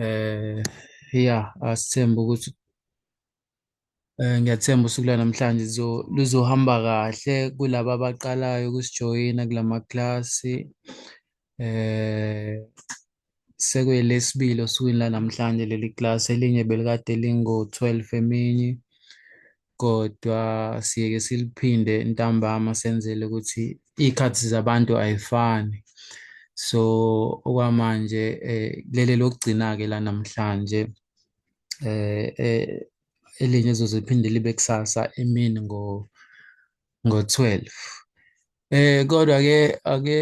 eh ya asithemba ukuthi eh ngiyathemba usuku lwanamhlanje lizo luzohamba kahle kulaba abaqalayo ukusijoyina kulama class eh sekwelesibili osukwini lanamhlanje leli class elinye belikade lingo-12 emini kodwa siyeke siliphinde ntambama senzele ukuthi iy'khathi zabantu ayifani so okwamanje eh, lele lokugcina-ke la namhlanje eh, eh, elinye ezoze liphinde libe kusasa emini ngo ngo-12 eh kodwa ke ake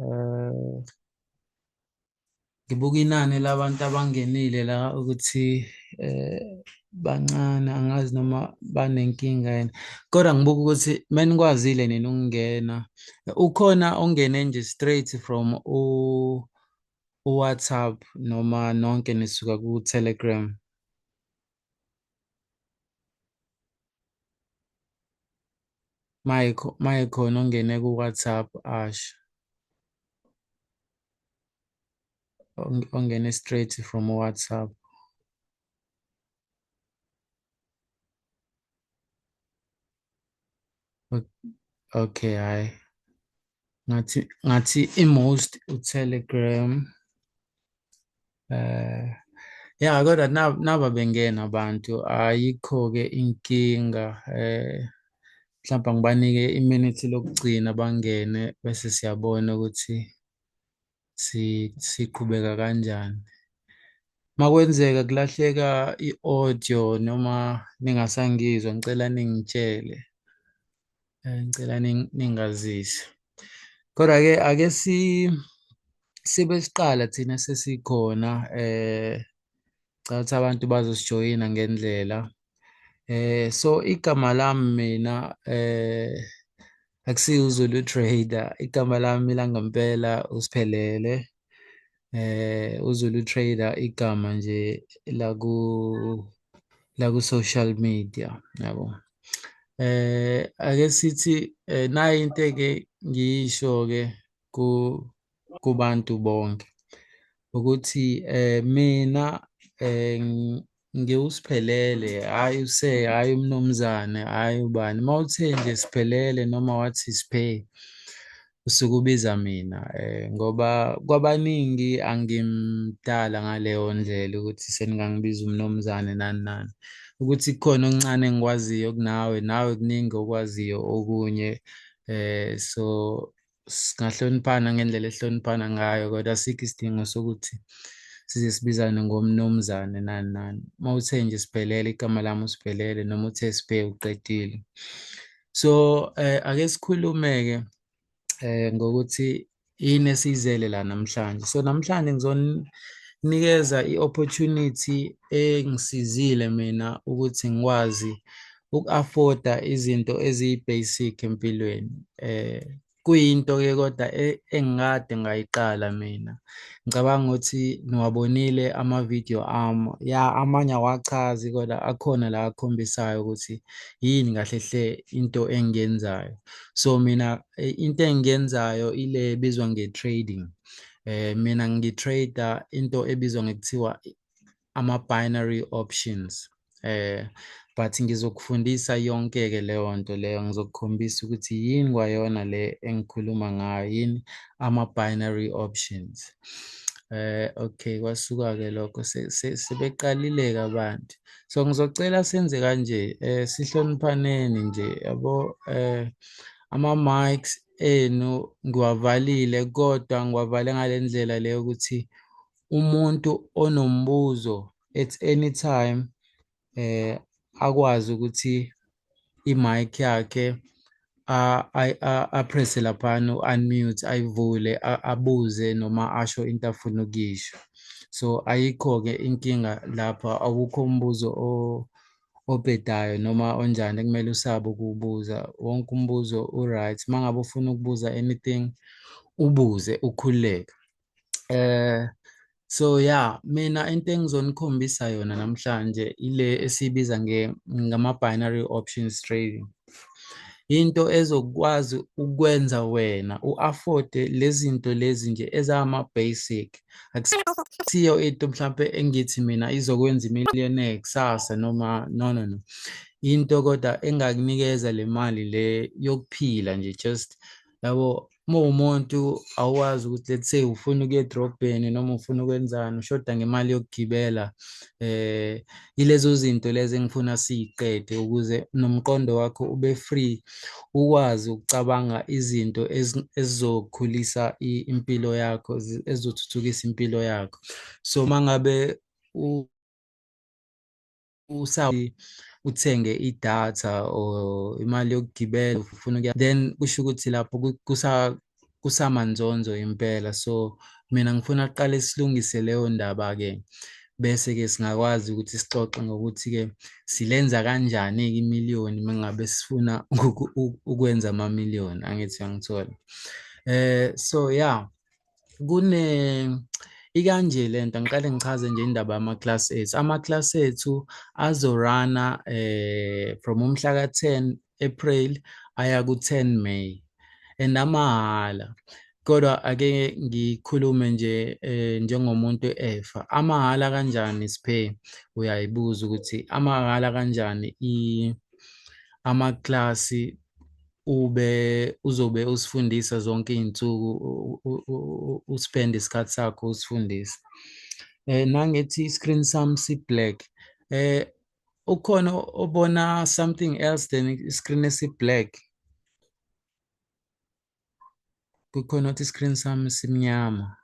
eh ngibuka inani labantu abangenile la ukuthi eh bancane angazi noma banenkinga yena kodwa ngibuka ukuthi menikwazile nina ukungena ukhona ongene nje straight from u WhatsApp noma nonke nisuka ku Telegram maye khona ongene ku-WhatsApp asho ongene straight from WhatsApp okay hayi ngathi ngathi i-most u-telegram Eh yeah kodwa naba bengena abantu ayikho ke inkinga eh mhlawumbe ngibanike iminute lokugcina bangene bese siyabona ukuthi si siqhubeka kanjani makwenzeka kulahleka i-audio noma ningasangizwa ngicela ningitshele Eh, ngicela ningazise. Kodwa ke ake si sibe siqala thina sesikhona eh cha ukuthi abantu bazosijoyina ngendlela. Eh so igama lami mina eh akusiyo uZulu Trader, igama lami langempela uSiphelele. eh uZulu Trader igama nje la ku la ku social media yabo eh ake sithi eh, nayi into ke ngiyisho ke ku kubantu bonke ukuthi eh mina eh ngiwusiphelele hhayi use hhayi umnumzane hhayi ubani uma uthe nje siphelele noma wathi siphe usuke ubiza mina um ngoba kwabaningi angimdala ngaleyo ndlela ukuthi seningangibiza umnumzane nani nani ukuthi kukhona okuncane engikwaziyo kunawe nawe kuningi okwaziyo okunye um so singahloniphana ngendlela ehloniphana ngayo kodwa asikho isidingo sokuthi size sibizane ngomnumzane nani nani uma uthe nje sibhelele igama lami usibhelele noma uthe sibhe uqedile so eh, ake sikhulume-ke eh, ngokuthi yini esiyizele la namhlanje so namhlanje ngizonikeza i-opportunity engisizile mina ukuthi ngikwazi uku-afforda izinto eziyi-basic empilweni eh kuyinto ke kodwa e, engikade ngayiqala mina ngicabanga ukuthi niwabonile ama-video ami ya amanye awachazi kodwa akhona la akhombisayo ukuthi yini kahle hle into engiyenzayo so mina e, into engiyenzayo ile ebizwa nge-trading eh mina ngitrader into ebizwa ngekuthiwa ama-binary options eh but ngizokufundisa yonke-ke leyo nto leyo ngizokukhombisa ukuthi yini kwayona le engikhuluma ngayo yini ama-binary options eh okay kwasuka ke lokho sebeqalileke abantu so ngizocela senze kanje eh sihloniphaneni nje yabo eh ama mics enu ngiwavalile kodwa ngiwavale ngalendlela leyo ukuthi umuntu onombuzo at any time eh akwazi ukuthi i-mic yakhe apresse laphana u-unmute ayivule abuze noma asho into afuna ukuyisho so ayikho-ke inkinga lapha awukho umbuzo obhedayo noma onjani ekumele usabe ukuwubuza wonke umbuzo u-right uma ngabe ufuna ukubuza anything ubuze ukhululeke eh so yeah mina into engizonikhombisa yona namhlanje ile esibiza nge ngama binary options trading into ezokwazi ukwenza wena u-afford lezinto lezi nje ezama basic akusiyo into mhlawumbe engithi mina izokwenza imillionaire kusasa noma no no no into kodwa engakunikeza le mali le yokuphila nje just yabo uma umuntu awazi ukuthi let's say ufuna ukuya edrobheni noma ufuna ukwenzani ushoda ngemali yokugibela eh ilezo zinto lezi engifuna siyiqede ukuze nomqondo wakho ube free ukwazi ukucabanga izinto ezizokhulisa impilo yakho ezizothuthukisa impilo yakho so mangabe usa uthenge idatha or imali yokugibela ufuna ukuya then kusho ukuthi lapho ku- kusa kusamanzonzo impela so mina ngifuna kuqale silungise leyo ndaba ke bese ke singakwazi ukuthi sixoxe ngokuthi ke silenza kanjani ke imiliyoni mengabe sifuna uku- u- ukwenza ama million angithi uyangithola eh so yeah kune ikanje lento ngiqale ngichaze nje indaba yama class ethu ama class ethu azorana eh from umhla ka 10 April aya ku 10 May and amahhala kodwa ake ngikhulume nje eh, njengomuntu efa amahhala kanjani siphe uyayibuza ukuthi amahhala kanjani i ama class ube uzobe usifundisa zonke iy'nsuku uspend isikhathi sakho usifundisa eh nangethi i-screen sam si-black eh ukhona obona something else than i-screen esi-black kukhona ukuthi i-screen sam simnyama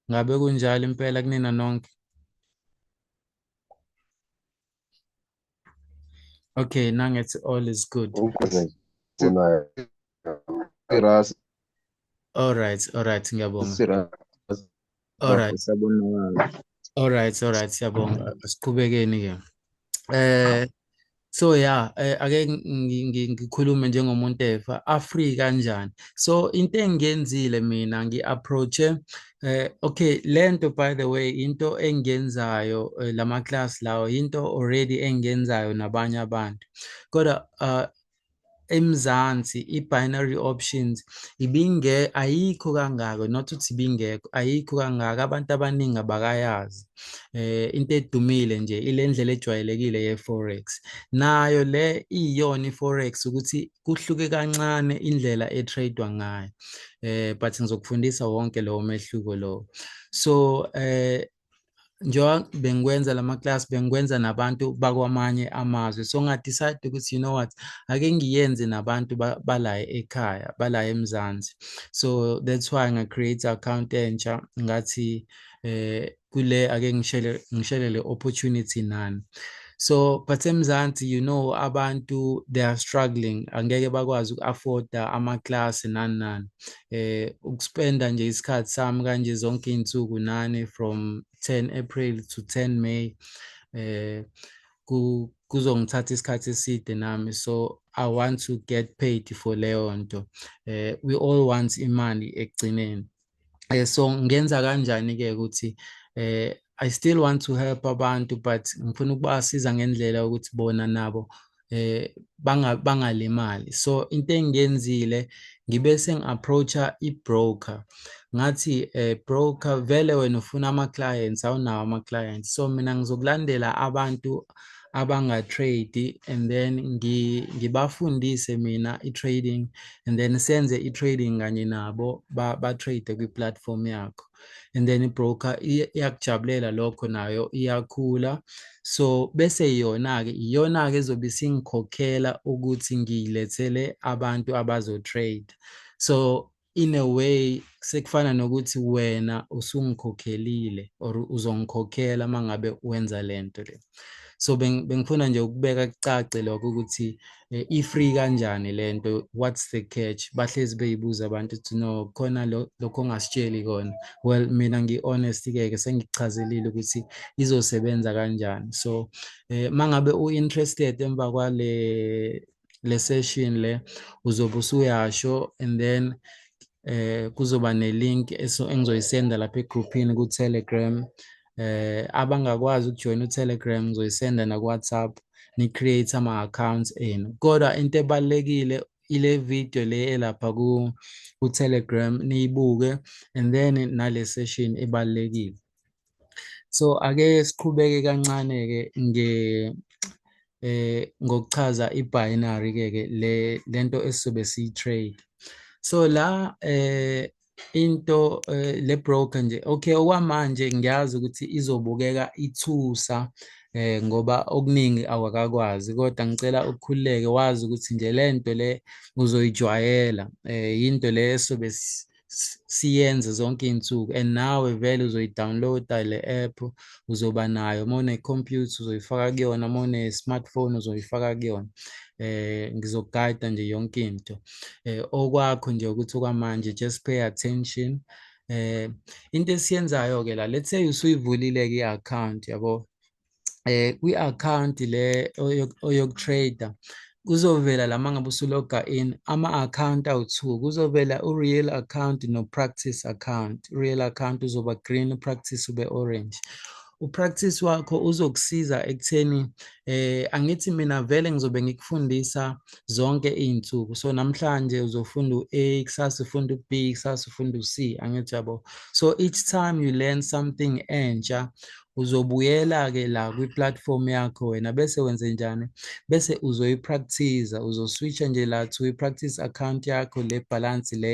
ngabe kunjalo impela kunina nonke Okay, now it's all is good. All right, all right, ngiyabonga. All right. All right, all right, siyabonga. Siqhubekeni ke. Eh So yeah, eh, ake ngikhulume njengomuntu efa Africa kanjani. So into engiyenzile mina ngi-approache Eh okay lento by the way into engenzayo eh, lama class lawo into already engenzayo nabanye abantu kodwa uh, eMzansi i-binary options ibinge ayikho kangako not ukuthi ibingekho ayikho kangako abantu abaningi abakayazi eh into edumile nje ile ndlela ejwayelekile ye-forex nayo le iyona i-forex ukuthi kuhluke kancane indlela etradewa ngayo eh but ngizokufundisa wonke lowo mehluko lowo so eh njengoba bengikwenza lama class bengikwenza nabantu bakwamanye amazwe so ngadecide ukuthi you know what ake ngiyenze nabantu bala ekhaya bala eMzansi so that's why nga create account entsha ngathi eh kule ake ngishele ngishele le opportunity nani so but emzansi you know abantu they are struggling angeke bakwazi uku-afforda ama-class nani nani eh ukuspenda nje isikhathi sami kanje zonke iy'nsuku nani from 10 april to 10 may eh kuzongithatha isikhathi eside nami so i want to get paid for leyo nto eh we all want imali ekugcineni eh, so ngenza kanjani ke ukuthi eh I still want to help abantu but ngifuna ukubasiza ngendlela ukuthi bona nabo eh banga bangalimali so into engiyenzile ngibe sengi-approacha i-broker ngathi eh broker vele wena ufuna ama-clients awunawo ama-clients so mina ngizokulandela abantu abanga-trade and then ngibafundise mina i-trading and then senze i-trading kanye nabo ba-trade kwi-platform yakho and then i-broker iyakujabulela lokho nayo iyakhula so bese yona-ke iyona-ke ezobe isingikhokhela ukuthi ngiyilethele abantu abazo-trade so in a way sekufana nokuthi wena usungikhokhelile or uzongikhokhela uma ngabe wenza le nto le so bengifuna nje ukubeka kucace lokho ukuthi eh, i-free kanjani le nto what's the catch bahlezi beyibuza abantu ukuthi no khona lokho ongasitsheli kona well mina ngi-honest-ke ke sengichazelile ukuthi izosebenza kanjani so um eh, uma ngabe u-interested emva kwale le session le uzobe usuyasho and then eh kuzoba nelink engizoyisenda lapha egroupini ku Telegram eh abangakwazi ukujoin u Telegram ngizoyisenda na WhatsApp ni create ama accounts enu kodwa into ebalekile ile video le elapha ku ku Telegram niyibuke and then nale session ebalekile so ake siqhubeke kancane ke nge eh ngokuchaza ibinary ke ke le lento esizobe siyitrade so la eh into eh, le broker nje okay okwamanje ngiyazi ukuthi izobukeka ithusa eh ngoba okuningi awakakwazi kodwa ngicela ukukhululeke wazi ukuthi nje lento le uzoyijwayela eh into le esobe siyenze zonke iy'nsuku and nawe vele uzoyidownloada le app uzoba nayo uma unekhompyutha uzoyifaka kuyona uma une-smartphone uzoyifaka kuyona eh ngizokugayida nje yonke into eh okwakho nje ukuthi okwamanje just pay attention eh into esiyenzayo ke la let's say usuyivulile ke i-account yabo eh kwi account le oyokutrader kuzovela lama ngabe usuloga in ama account awu2 kuzovela u real account no practice account real account uzoba green practice ube orange upractice wakho uzokusiza ekutheni eh angithi mina vele ngizobe ngikufundisa zonke izinsuku so namhlanje uzofunda uA kusasa ufunda uB kusasa ufunda uC angithi yabo so each time you learn something entsha uzobuyela ke la kwi-platform yakho wena bese wenze njani bese uzoyipractice uzoswitcha nje la to i-practice account yakho le balance le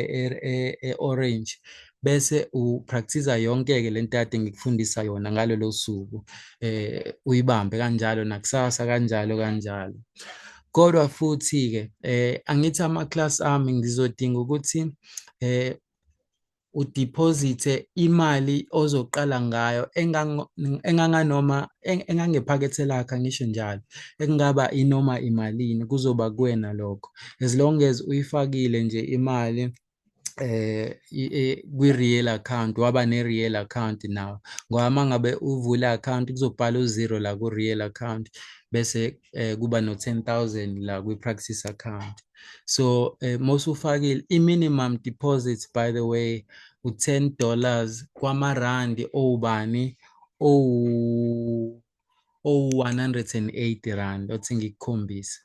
e-orange e, e bese upractice yonke ke lento ade ngikufundisa yona ngalelo suku eh uyibambe kanjalo nakusasa kanjalo kanjalo kodwa futhi ke eh angithi ama class ami ngizodinga ukuthi eh udiphozithe imali ozoqala ngayo enganganoma engangephakethe lakhe ngisho njalo ekungaba inoma imalini kuzoba kuwena lokho as long as uyifakile nje imali eh kwi-real account waba ne-real account nawo ngoba uma ngabe uvule account kuzobhala u-zero la ku-real account bese eh, kuba no-10 000 la kwi-practice account so eh, mosufakile i-minimum deposit by the way u-10 dollars kwamarandi owubani owu owu-180 rand othi ngikukhombise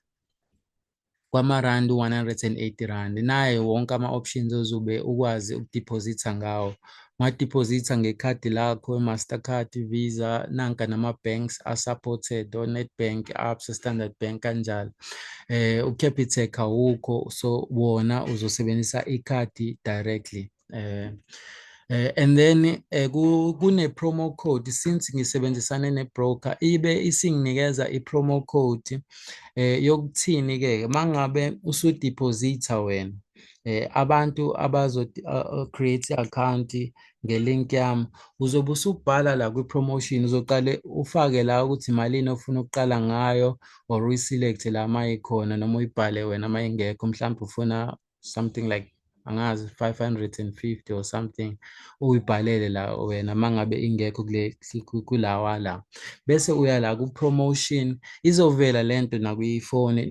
kwamarandi u-180 rand naye wonke ama-options ozobe ukwazi ukudepositha ngawo ungadepositha ngekhadi lakho i-mastercard visa nanka nama-banks a-supported o-netbank absa standard bank kanjalo eh u-capitec awukho so wona uzosebenzisa ikhadi directly eh Uh, and then uh, eh, kune-promo code since ngisebenzisane ne-broker ibe isinginikeza i-promo code um uh, yokuthini-ke mangabe usudepositha wena eh abantu abazo uh, create account ngelink yami uzobe usubhala la kwi promotion uzoqale ufake la ukuthi malini ofuna ukuqala ngayo or uyi select la mayikhona noma uyibhale wena mayingekho mhlawumbe ufuna something like angazi 550 or something uyibhalele la wena mangabe ingekho kule kulawa la bese uya la ku promotion izovela lento nakuyifoni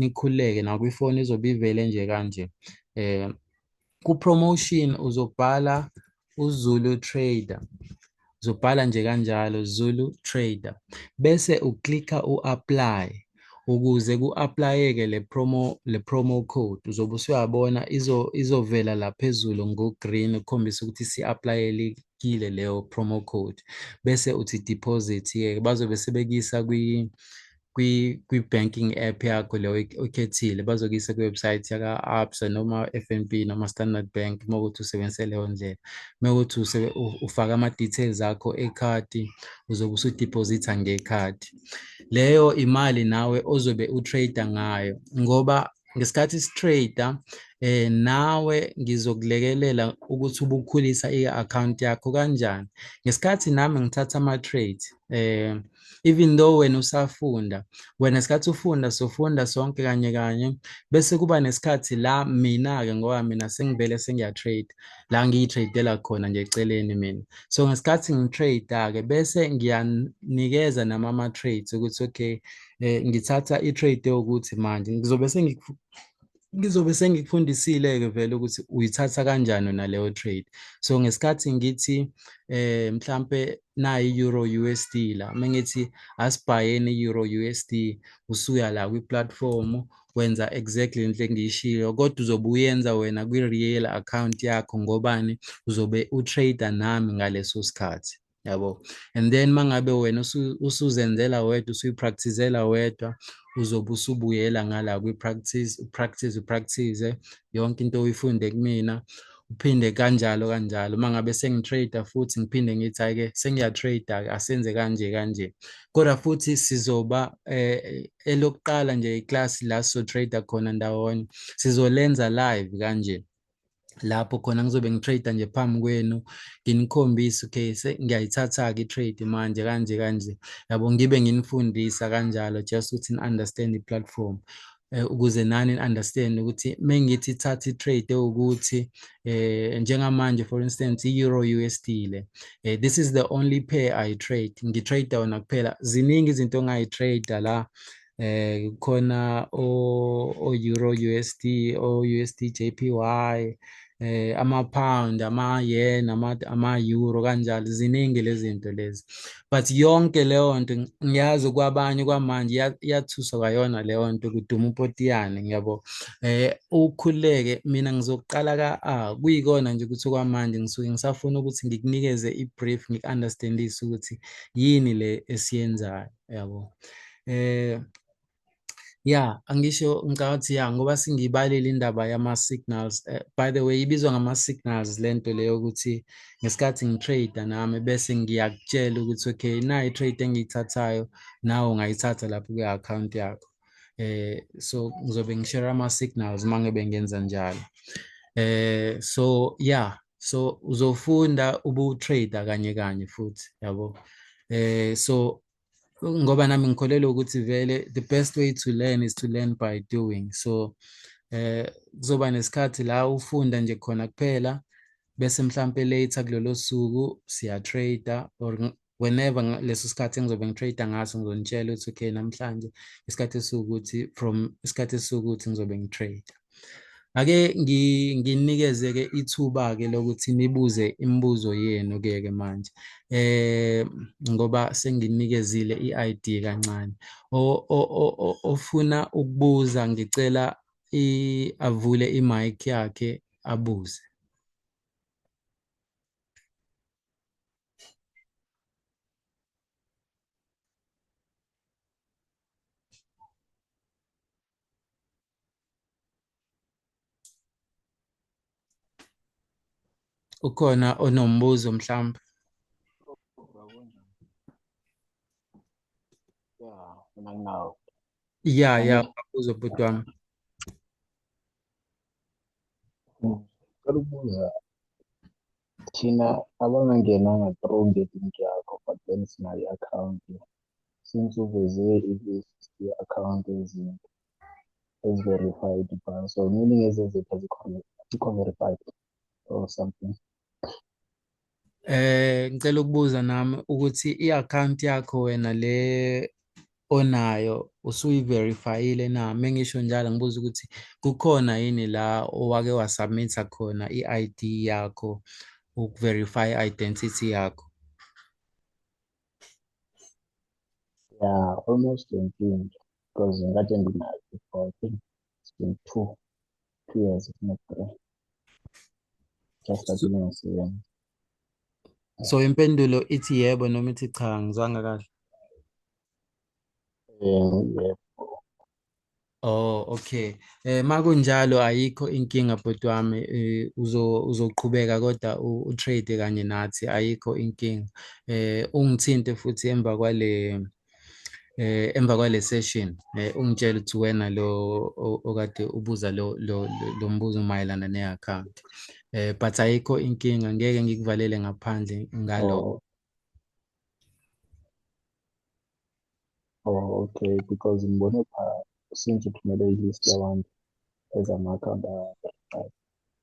nikhuleke nakuyifoni izobe ivele nje kanje eh ku promotion uzobhala uZulu trader uzobhala nje kanjalo Zulu trader bese uklikha uapply ukuze ku-aplayeke le promo le promo code uzobe usuyabona izo izovela la phezulu ngo-green ukukhombisa ukuthi si-aplayelekile leyo promo code bese uthi deposit ke bazobe sebekuyisa kwi kwi kwi-banking app yakho leyo oyikhethile bazokuyisa kwi-website yaka-absa noma f n b noma standard bank uma ukuthi usebenzise leyo ndlela uma ukuthi ufake ama-details akho ekhadi uzobe usudiphozitha ngekhadi leyo imali nawe ozobe utrader ngayo ngoba ngesikhathi sitrader eh nawe ngizokulekelela ukuthi ubukhulisa i-account yakho kanjani ngesikhathi nami ngithatha ama-trade eh even though wena usafunda wena sikhathi ufunda sofunda sonke kanye kanye bese kuba nesikhathi la mina-ke ngoba mina sengivele sengiyatrade la ngiyitradela khona nje eceleni mina so ngesikhathi ngitrade-ke bese ngiyanikeza nama ama-trades ukuthi okay eh, ngithatha i-trade yokuthi manje ngizobe ngizobe sengikufundisile-ke vele ukuthi uyithatha kanjani naleyo trade so ngesikhathi ngithi eh mhlampe nayi euro USD la mengithi asibhayeni euro USD usuya la kwi platform wenza exactly into engiyishilo kodwa uzobe uyenza wena kwi real account yakho ngobani uzobe u trader nami ngaleso sikhathi yabo and then mangabe wena usuzenzela wedwa usuyipracticela wedwa uzobe usubuyela ngala kwi-practice upractice upractice yonke into oyifunde kumina uphinde kanjalo kanjalo uma ngabe sengitrader futhi ngiphinde ngithi hhayi-ke sengiyatrader-ke asenze kanje kanje kodwa futhi sizoba um elokuqala nje iklasi la sizotrader khona ndawonye sizolenza live kanje lapho khona ngizobe ngitrader nje phambi kwenu nginikhombise okay ngiyayithatha-ke i-trade manje kanje kanje yabo ngibe nginifundisa kanjalo just ukuthi ni-understand i-platform Eh, ukuze nani understand ukuthi mengithi thatha itrade ukuthi eh njengamanje for instance euro USD le eh, this is the only pair i trade ngitrade wona kuphela ziningi izinto ongayi trade la eh khona o euro USD o USD JPY eh ama-pound ama-yen ama-euro kanjalo ziningi lezi zinto lezi but yonke leyo nto ngiyazi kwabanye kwamanje iyathusa kwayona leyo nto kuduma upotiyane ngiyabo eh ukhuleke mina ngizoqala ka-a kuyikona nje ukuthi kwamanje ngisuke ngisafuna ukuthi ngikunikeze i-brief ngiku-understandise ukuthi yini le esiyenzayo yabo eh Yeah, angisho ngicabanga ukuthi yeah ngoba singibalile indaba yama-signals. Uh, by the way, ibizwa ngama-signals le nto leyo ukuthi ngesikhathi ngitrade nami bese ngiyakutshela ukuthi okay na i-trade engiyithathayo nawe ungayithatha lapho kwi-akhawunti yakho. Eh so ngizobe ngishare ama-signals uma ngebe ngenza njalo. Eh so yeah, so uzofunda ubu-trader kanye kanye futhi yabo. Eh so ngoba nami ngikholelwa ukuthi vele the best way to learn is to learn by doing so eh kuzoba nesikhathi la ufunda nje khona kuphela bese mhlambe later kulelo suku siya trader or whenever leso sikhathi engizobe ngitrader ngaso ngizonitshela ukuthi okay namhlanje isikhathi sokuthi from isikhathi sokuthi ngizobe ngitrader ake nginikeze ke ithuba ke lokuthi nibuze imibuzo yenu ke ke manje eh ngoba senginikezile iID kancane ofuna ukubuza ngicela avule imic yakhe abuze ukhona onombuzo mhlawumbe ya ya ubuzo bhuti wami Ngicela ukubuza thina abangangenanga through ngelinki yakho but then sinayo i-akhawunti since uveze i-list ye-account ezinto ezi-verified ibhanka so meaning ezeziphi azikho verified or something eh ngicela ukubuza nami ukuthi i-account yakho wena le onayo usuyi-verifyile na mengisho njalo ngibuza ukuthi kukhona yini la owake wasubmitha khona i-ID yakho uku-verify i-identity yakho Yeah, almost 20 because in that end now before I think it's been two, two years, if not three. Just like you so, so impendulo ithi yebo noma ithi cha ngizwanga kahle. Um, yebo. Oh okay. Eh makunjalo ayikho inkinga bhuti wami eh, uzo uzoqhubeka kodwa u trade kanye nathi ayikho inkinga. Eh ungithinte futhi emva kwale eh emva kwale session eh ungitshela ukuthi wena lo okade ubuza lo lo mbuzo mayelana ne account. Eh but ayikho inkinga ngeke ngikuvalele ngaphandle ngaloko. Oh. Oh, okay because ngibone pha since uthumele i-list yabantu ezama-akhawunti a-verified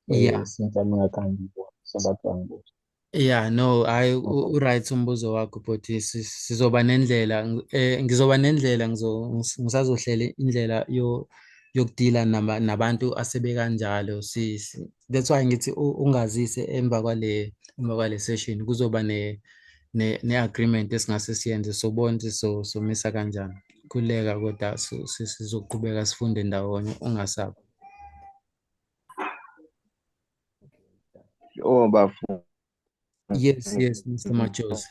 Yeah. Eh, since ami ngakhange ngibone so that's why ngibuza Yeah, no, hayi u- Okay. u-right umbuzo wakho bhuti Si- sizoba nendlela ng- eh, ngizoba nendlela ngizo ngis- ngisazohlela indlela yo yokudila naba, nabantu asebekanjalo si, si that's why ngithi u- ungazise emva kwale emva kwale session kuzoba ne ne, ne agreement esingase siyenze sobonke so somisa kanjani khuleka kodwa sizoqhubeka sifunde ndawonye ungasabi oh bafu yes yes Mr Majozi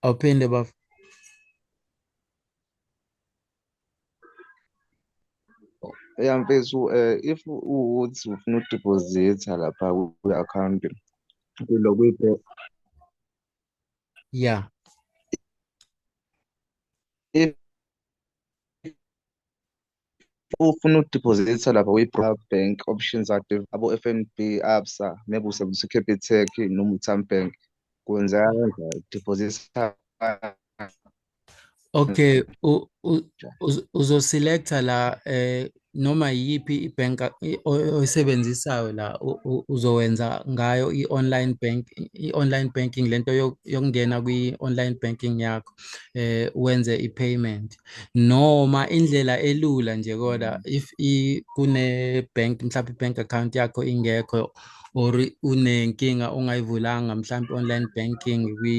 awuphinde bafu ya mfethu um eh, if uwukuthi ufuna udiphozitha lapha kwi-akhawunti kulo kwi-pro ya if ufuna udiphozitha lapha kwi-pro bank options active abo-f n b absa maybe usebenzisa ucapitec noma utambank kwenzeka kanjani diphozitha Okay, u- u- uz- uzoselecta la eh noma yiphi ibank a- i- oy- oyisebenzisayo la u- u- uzowenza ngayo i-online bank i-online banking lento yo- yokungena kwi-online banking yakho eh wenze i-payment noma indlela elula nje kodwa if i kune bank mhlawumbe i-bank account yakho ingekho or unenkinga ongayivulanga mhlawumbe online banking kwi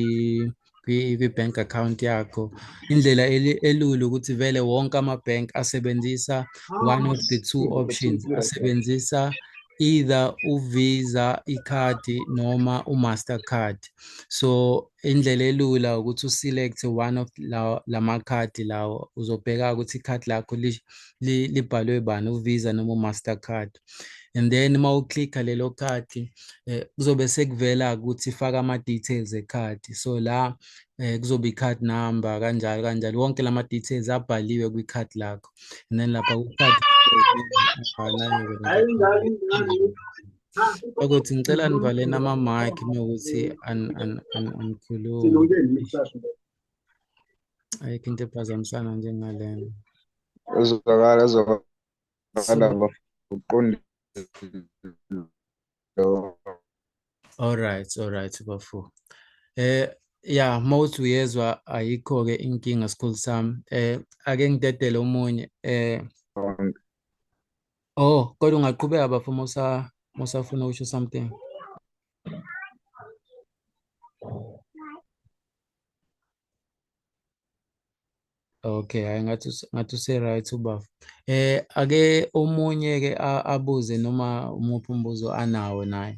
kwi-bank account yakho indlela elula ukuthi vele wonke ama-bank asebenzisa ah, one of the two options asebenzisa either uvisa ikhadi noma umaster card so indlela elula ukuthi uselect one of lawo lamakhadi lawo uzobheka ukuthi ikhadi lakho libhalwe bani uvisa noma umaster card and then uma uclicka lelo khadi eh, kuzobe sekuvela ukuthi faka ama-details ekhadi so la eh, kuzobe i-card number kanjalo kanjalo wonke lama details abhaliwe kwi-card lakho and then lapha ku-card ukuthi ngicela nivaleni ama-mic mewukuthi anikhulumi ayikho into ephazamisana njengalena ezwakala ezwakala Bafana uqondile. All right, all right bafo. Eh yeah, most uyezwa ayikho ke inkinga school sam. Eh ake ngidedele umunye eh Oh, kodwa ungaqhubeka bafo musa musafuna ukusho something. Okay, hayi ngathi us- ngathi use-right ubafo. Eh ake omunye ke a- abuze noma umuphi umbuzo anawo naye.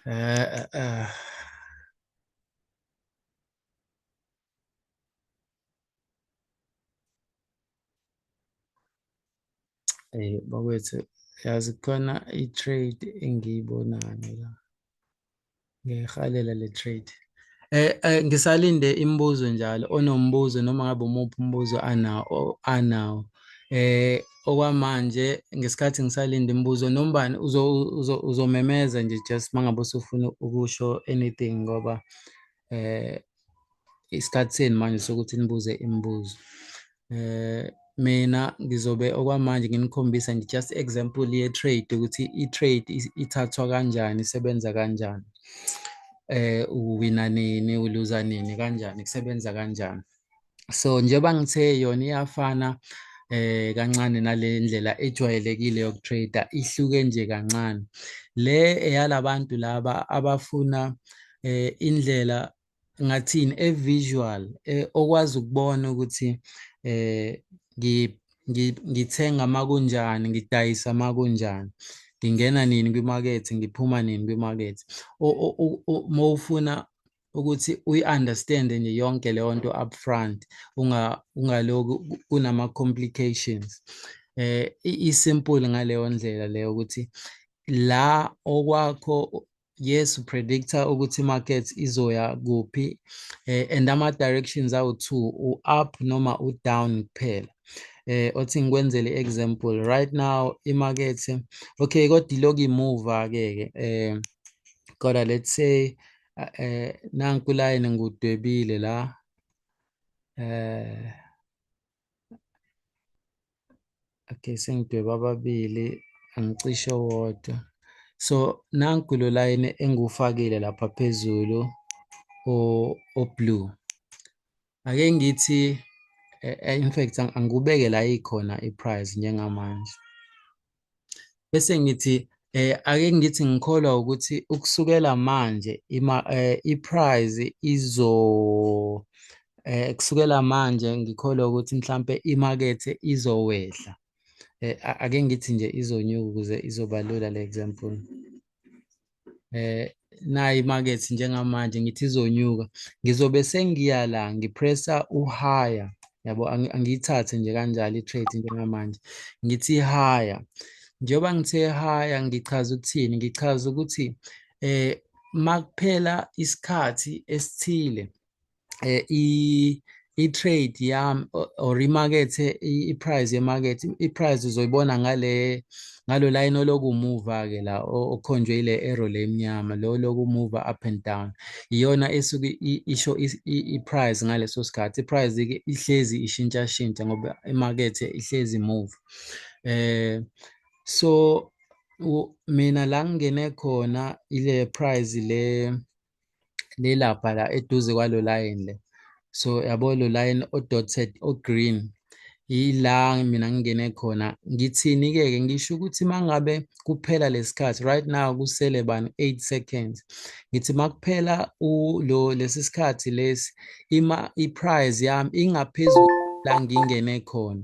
Eh eh, eh. Hey bakwethu yazi khona i-trade engiyibonayo la ngiyihalela le trade eh, eh ngisalinde imibuzo njalo onombuzo noma ngabe umuphi umbuzo anawo anawo eh okwamanje ngesikhathi ngisalinde imibuzo nombani uzomemeza nje just mangabe usufuna ukusho anything ngoba eh isikhathi senu manje sokuthi nibuze imibuzo eh mina ngizobe okwamanje nginikhombisa nje just example ye trade ukuthi i trade ithathwa kanjani isebenza kanjani eh uwina nini uluza nini kanjani kusebenza kanjani so njengoba ngithe yona iyafana eh kancane nale ndlela ejwayelekile yokutrader ihluke nje kancane le eyalabantu laba abafuna eh indlela ngathini evisual eh, okwazi ukubona ukuthi eh ngithenga makunjani ngidayisa makunjani ngingena nini kwimakethe ngiphuma nini kwimakethe mawufuna ukuthi uyi-understande nje yonke leyo nto up front ungaloku kunama-complications eh isimple ngaleyo ndlela leyo ukuthi la okwakho yes upredict ukuthi market izoya kuphi eh, and ama directions awu two u up noma u down kuphela eh othi ngikwenzele example right now imarket okay kodwa iloku imuva ke ke eh kodwa let's say eh nanku line ngudwebile la eh okay sengidweba ababili angicishe wodwa so nanku lo line engiwufakile lapha phezulu o o blue ake ngithi eh, eh, in fact angikubeke la ikhona iprice njengamanje bese ngithi eh ake ngithi ngikholwa ukuthi ukusukela manje ima eh, iprize izo eh kusukela manje ngikholwa ukuthi mhlambe imakethe izowehla eh ake ngithi nje izonyuka ukuze izobalula le example eh nayi market njengamanje ngithi izonyuka ngizobe sengiya la ngipressa uhaya yabo angiyithathe nje kanjalo i-trade njengamanje ngithi haya njengoba ngithe haya ngichaza ukuthini ngichaza ukuthi eh makuphela isikhathi esithile eh, i i-trade yami or imakethe i-price yemakethe i-price uzoyibona ngale ngalo line olokumuva-ke la okhonjwe ile arrow le emnyama lo lokumuva up and down iyona esuke isho i-price ngaleso sikhathi i-price-ke ihlezi ishintshashintsha ngoba imakethe ihlezi move eh so mina la ngingene khona ile price le lilapha la eduze kwalo line le so yabo lo line o-dotted o-green yila mina ngingene khona ngithini-ke ke ngisho ukuthi mangabe kuphela lesikhathi right now kusele bani 8 seconds ngithi makuphela lo lesi sikhathi lesi ima i-prize yami ingaphezulu la ngingene khona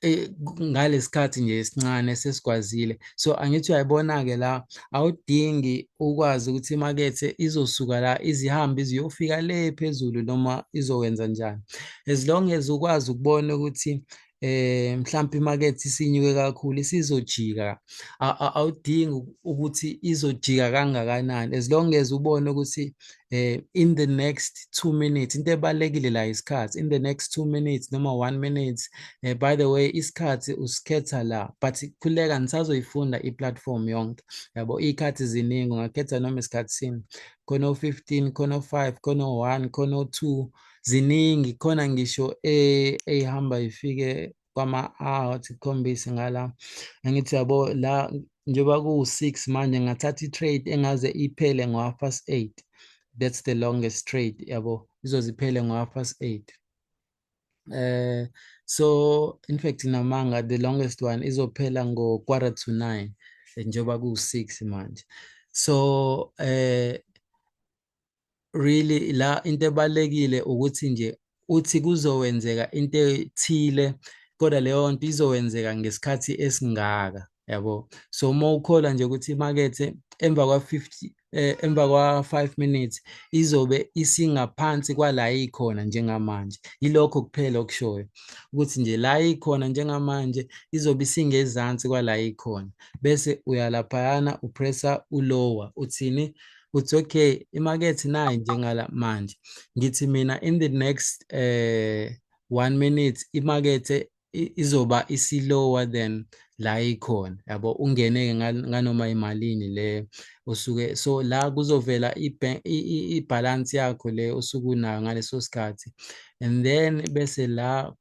eh, ngalesikhathi nje esincane sesikwazile so angithi uyayibona ke la awudingi ukwazi ukuthi imakethe izosuka la izihambe iziyofika le phezulu noma izowenza njani as long as ukwazi ukubona ukuthi eh mhlawumbe imakethe isinyuke kakhulu isizojika awudingi ukuthi izojika kangakanani as long as ubone ukuthi eh in the next 2 minutes into ebalekile la isikhathi in the next 2 minutes noma 1 minutes eh, by the way isikhathi usikhetha la but khuleka nisazoyifunda iplatform yonke yabo ikhathi ziningi ungakhetha noma isikhathi sini khona 15 khona 5 khona 1 khona 2 ziningi khona ngisho ehamba ifike kwama-hour sikhombise ngala angithi yabo la njengoba kuwu-six manje ngathatha i-trade engaze iphele ngo-half past eight that's the longest trade yabo izoziphele ngo-half past eight uh, so in fact namanga the longest one izophela ngo-quarter to nine njengoba kuwu-six manje so um uh, really la into ebalekile ukuthi nje uthi kuzowenzeka into ethile kodwa leyo nto izowenzeka ngesikhathi esingaka yabo so uma ukholwa nje ukuthi imakethe emva kwa-50 eh, emva kwa-5 minutes izobe isingaphansi kwala ikhona njengamanje yilokho kuphela okushoyo ukuthi nje la ikhona njengamanje izobe isingezansi kwala ikhona bese uyalaphayana upressa ulower uthini it's okay imakethe nayi njengala manje ngithi mina in the next eh one minute imakethe izoba isilower than la ikhona yabo ungene nganoma imalini le usuke so la kuzovela ibalance yakho le usuke unayo ngaleso sikhathi and then bese la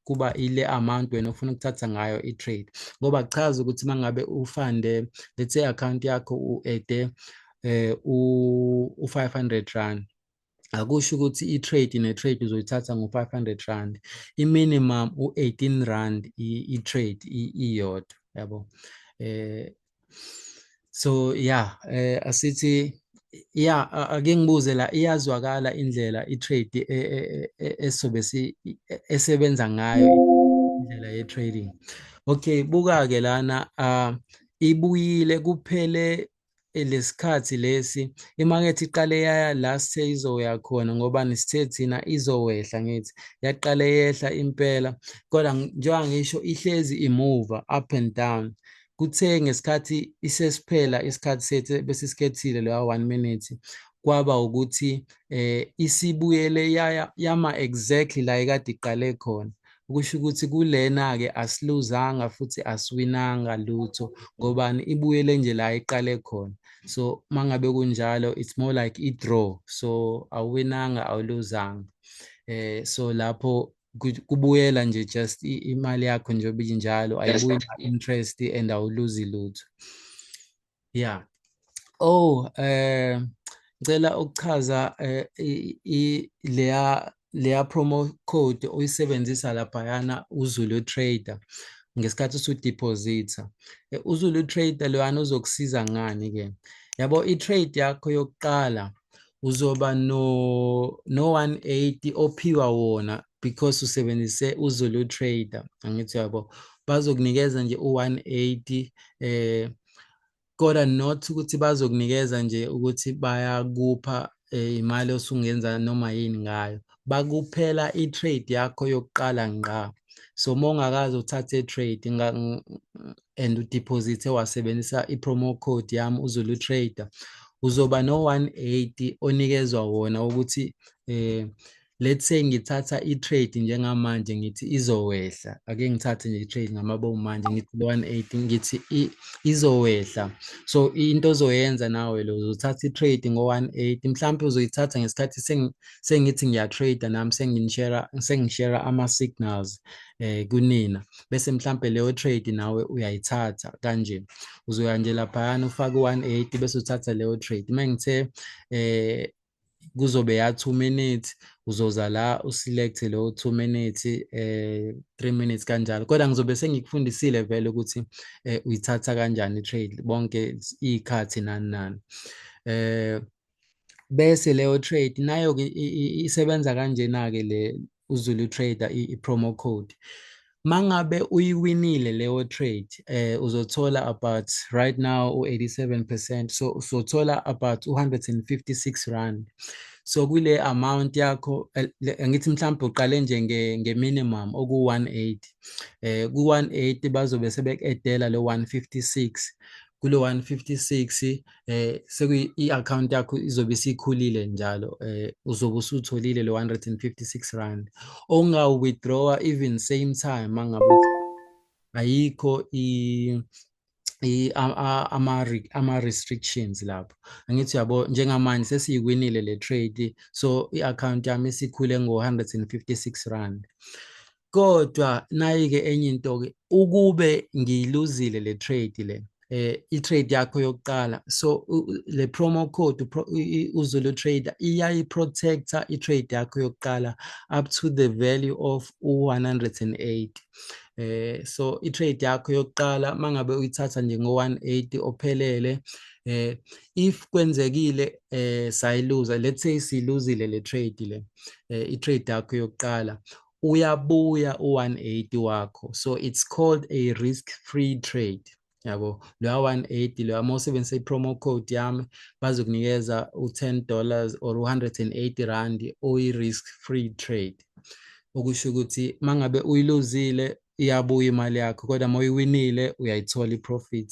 kuba ile amount wena ufuna ukuthatha ngayo i-trade ngoba kuchaza ukuthi uma ngabe ufande let's say account yakho u-ede eh, u-500 rand akusho ukuthi i-trade ne-trade uzoyithatha ngo-500 rand i-minimum u-18 rand i-trade iyodwa yabo eh so yeah eh asithi yeah ake ngibuze la iyazwakala indlela itrade e, e, e, esobe si esebenza ngayo indlela ye trading okay buka ke lana uh, ibuyile kuphele eh, lesikhathi lesi imakethe iqale yaya la seyizoya khona ngoba nisithe thina izowehla ngithi yaqale yehla impela kodwa njengoba ngisho ihlezi imuva up and down kuthe ngesikhathi isesiphela isikhathi sethu bese sikhethile leya 1 minute kwaba ukuthi eh isibuyele yaya yama exactly la ekade iqale khona ukusho ukuthi kulena ke asiluzanga futhi asiwinanga lutho ngobani ibuyele nje la iqale khona so mangabe kunjalo it's more like i draw so awuwinanga awuluzanga eh so lapho kubuyela nje just imali yakho njengoba injalo ayibuyi interest and awuluzi lutho yeah oh eh ngicela ukuchaza eh, i leya leya promo code uyisebenzisa laphayana uzulu trader ngesikhathi usudeposita eh, uzulu trader loyana uzokusiza ngani ke yabo i-trade yakho yokuqala uzoba no no 180 ophiwa wona because usebenzise uZulu trader angithi yabo bazokunikeza nje u180 eh kodwa not ukuthi bazokunikeza nje ukuthi bayakupha eh, imali osungenza noma yini ngayo bakuphela i-trade yakho yokuqala ngqa so uma ungakaze uthathe i-trade and udeposite wasebenzisa i-promo code yami uzulu trader uzoba no-180 onikezwa wona ukuthi eh let's say ngithatha i-trade njengamanje ngithi izowehla ake ngithathe nje i-trade ngamabomu manje ngithi 180 ngithi izowehla so into ozoyenza nawe lo uzothatha i-trade ngo-180 mhlawumpe uzoyithatha ngesikhathi sengithi ngiyatrade nami sengishera ama-signals um kunina bese mhlampe leyo trade nawe uyayithatha kanje uzoya nje laphayana ufake 180 bese uthatha leyo trade uma ngithe eh kuzobe ya 2 minutes uzoza la uselect leyo 2 minutes eh 3 minutes kanjalo kodwa ngizobe sengikufundisile vele ukuthi eh, uyithatha kanjani trade bonke ikhathi nani nani eh bese leyo trade nayo ke isebenza kanjena ke le uZulu Trader i-promo code mangabe uyiwinile leyo trade eh uzothola about right now u87% so uzothola about 156 rand so kule amount yakho eh, ngithi mhlawumbe uqale nje nge, nge minimum oku 180 eh ku 180 bazobe sebekudela le 156 kulo 156 eh sekuyi i-account yakho izobe isikhulile njalo eh uzobe usutholile lo 156 rand onga withdraw even same time mangabe ayikho i ama ama restrictions lapho angithi yabo njengamanje sesiyikwinile le trade so i-account yami isikhule ngo 156 rand kodwa nayike enye into ke ukube ngiyiluzile le trade le eh i-trade yakho yokuqala so le promo code uzulu trader iyayi protector i-trade yakho yokuqala up to the value of 180 eh so i-trade yakho yokuqala mangabe uyithatha nje ngo-180 ophelele eh if kwenzekile eh sayiluza let's say siluzile le trade le eh, i-trade yakho yokuqala uyabuya u-180 wakho so it's called a risk free trade yabo loya 180 loya uma usebenzisa i-promo code yami bazokunikeza u-10 dollars or 180 rand oyi-risk free trade okusho ukuthi uma ngabe uyiluzile iyabuya imali yakho kodwa uma uyiwinile uyayithola i-profit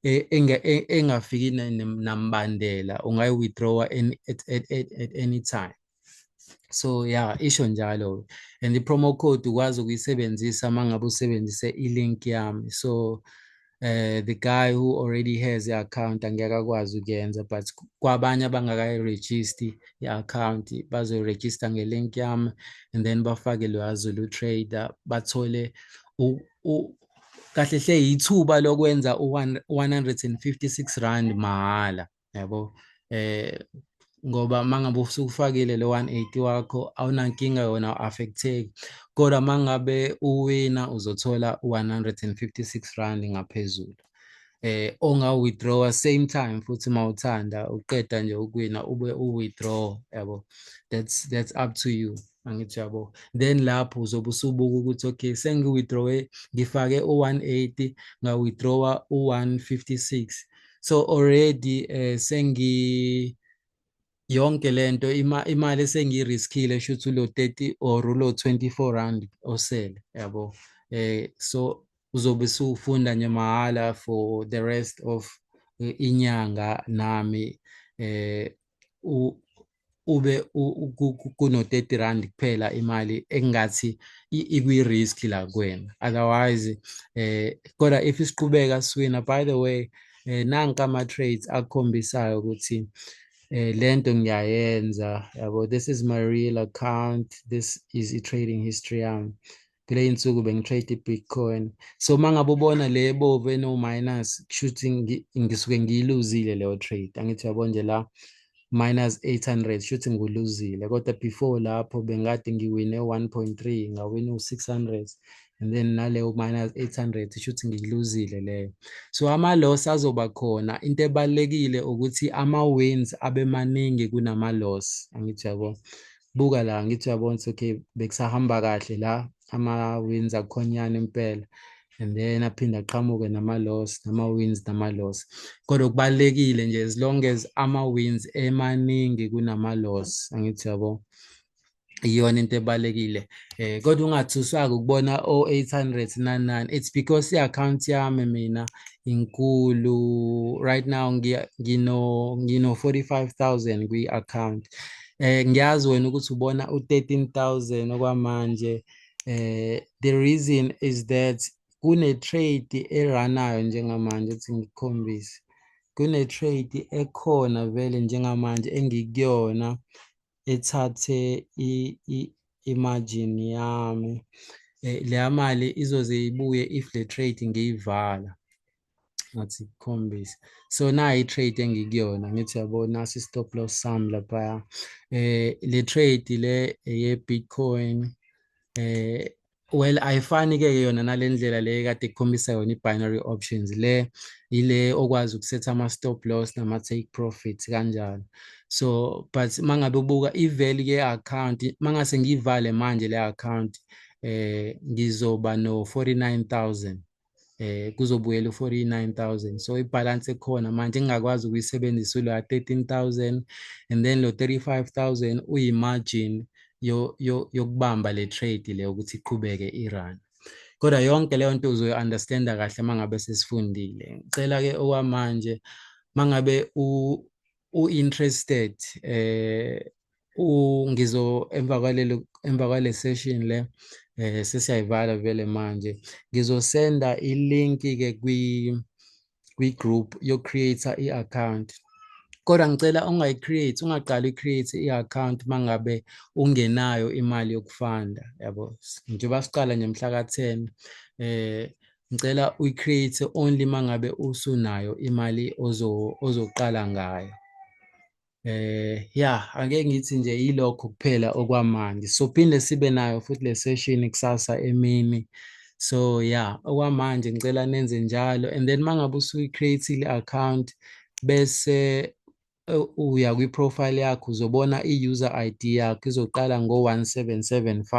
e, e, engafiki nambandela ungayi-withdrawa at, at, at, at any time so yeah isho njalo and i-promo code ukwazi ukuyisebenzisa uma ngabe usebenzise i-link yami so uh, the guy who already has i-account angeke akwazi ukuyenza but kwabanye abangakayiregisti i-account bazoyirejista nge-link yami and then bafake loya zulu trader bathole kahle hle yithuba lokwenza u-156 rand mahhala yabo eh ngoba mangabe usukufakile le 180 wakho awunankinga yona affecteki kodwa mangabe uwina uzothola 156 rand ngaphezulu eh onga withdraw same time futhi mawuthanda uqeda nje ukuwina ube u withdraw yabo that's that's up to you angithi yabo then lapho uzobe usubuka ukuthi okay sengi-withdrawe ngifake u-180 nga-withdrawa u-156 so already eh sengi yonke lento ima, imali esengiyiriskile shuthi ulo 30 or ulo 24 rand osele yabo eh so uzobe sufunda nje mahhala for the rest of eh, inyanga nami eh ube kuno 30 rand kuphela imali engathi ikwi risk la kuwena otherwise eh kodwa if isiqhubeka siwina by the way eh nanka ama trades akhombisayo ukuthi eh lento ngiyayenza yabo this is my real account this is i trading history yami kule insuku bengitrade i-bitcoin so uma ngabe ubona le bovu eno-minus kushuthi ngisuke ngiyiluzile leyo trade angithi yabo nje la minus 800 shuthi nguluzile kodwa before lapho bengade ngiwine 1.3 ngawina u600 and then naleyo minus 800 shuthi ngiluzile leyo so ama loss azoba khona into ebalekile ukuthi ama wins abe maningi kunama loss angithi yabo buka la ngithi uyabona ukuthi okay bekusahamba kahle la ama-wins akukhonyana impela and then aphinde aqhamuke nama-loss nama-wins nama-loss kodwa kubalulekile nje as long as ama-wins emaningi kunama-loss angithi yabo iyona into ebalekile eh kodwa ungathuswaka ukubona o899 it's because iaccount yami mina inkulu right now ngino ngino 45000 kwi account eh ngiyazi wena ukuthi ubona u13000 okwamanje eh the reason is that kune trade eranayo njengamanje ukuthi ngikhombise kune trade ekhona vele njengamanje engikuyona ethathe i-margin yami eh, leya mali izoze ibuye if le trade ngiyivala ngathi khombisa so nayi trade engikuyona ngithi yabona si stop loss sam lapha eh le trade le ye Bitcoin eh well ayifani ke yona nalendlela le kade ikhombisa yona ibinary options le ile okwazi ukusetha ama stop loss nama take profits kanjalo so but mangabe ubuka i value ye account mangase ngivale manje le account eh ngizoba no 49000 eh kuzobuyela u49000 so ibalance ekhona manje ngingakwazi ukuyisebenzisa lo 13000 and then lo 35000 uyi margin yo yokubamba le trade le ukuthi iqhubeke irun kodwa yonke leyo nto uzoyi understanda kahle mangabe sesifundile ngicela ke okwamanje mangabe u u interested eh u ngizo emva kwalelo emva kwale session le eh sesiyayivala vele manje ngizosenda ilink ke kwi kwi group yo create i account kodwa ngicela ungayi create ungaqali create i account mangabe ungenayo imali yokufanda yabo njengoba siqala nje mhla ka 10 eh ngicela uyi-create only uma ngabe usunayo imali ozoqala ngayo eh ya ake ngithi nje yilokho kuphela okwamanje sophinde sibe nayo futhi le session kusasa emini so ya okwamanje ngicela nenze njalo and then mangabe usuyi-create-ile account bese uya kwi-profile yakho uzobona i-user ID yakho izoqala ngo-1775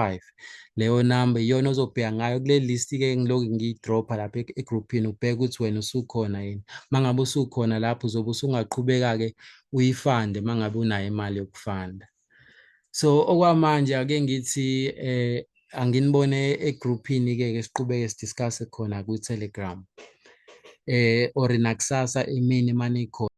leyo number iyona ozobheka ngayo kule list-ke ngiloku ngiyidropha lapha egruphini ubheke ukuthi wena usukhona yini uma ngabe usukhona lapho uzobe usungaqhubeka-ke uyifande uma ngabe unayo imali yokufanda so okwamanje ake ngithi eh anginibone egrouphini ke ke siqhubeke sidiscuss khona ku Telegram eh or nakusasa imini mani khona